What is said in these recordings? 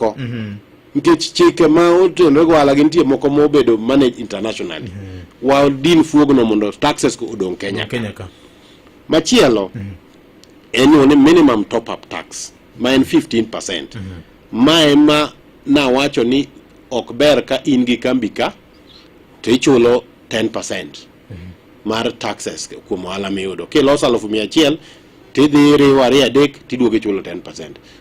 oko mhm. nikech chike ma otenore gi ohala gi nitie moko ma obedo manage internationally mhm. wa din fuogno mondo taxes ko odong Kenya Kenya ka machielo mhm. en ni minimum top up tax ma en 15% ma ema nawacho ni ok ber ka in gi kambi ka to ichulo 10% mar taxes kuom ohala miyudo kiloso alufu mia achiel tidhi riwo ariyo adek tiduogo ichulo 10%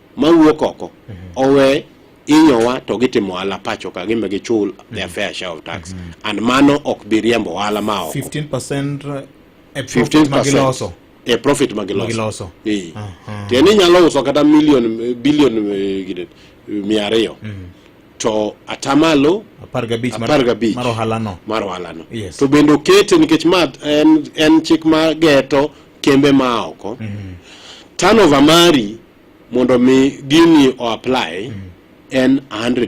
mawuok oko owe inyowa to gitimo ohala pacho ka gimbe gichul their mm. fair share of tax mm-hmm. and mano ok bi riembo ohala ma oko 15% e profit ma giloso e profit ma giloso ee uh-huh. tiende inyalo uso kata million billion eh, gine mia ariyo mm-hmm. to atamalo apar gabich mar ohalano mar ohalano to bende okete nikech ma en chik ma geto kembe ma oko turnover mari mondo mi gini o apply en 100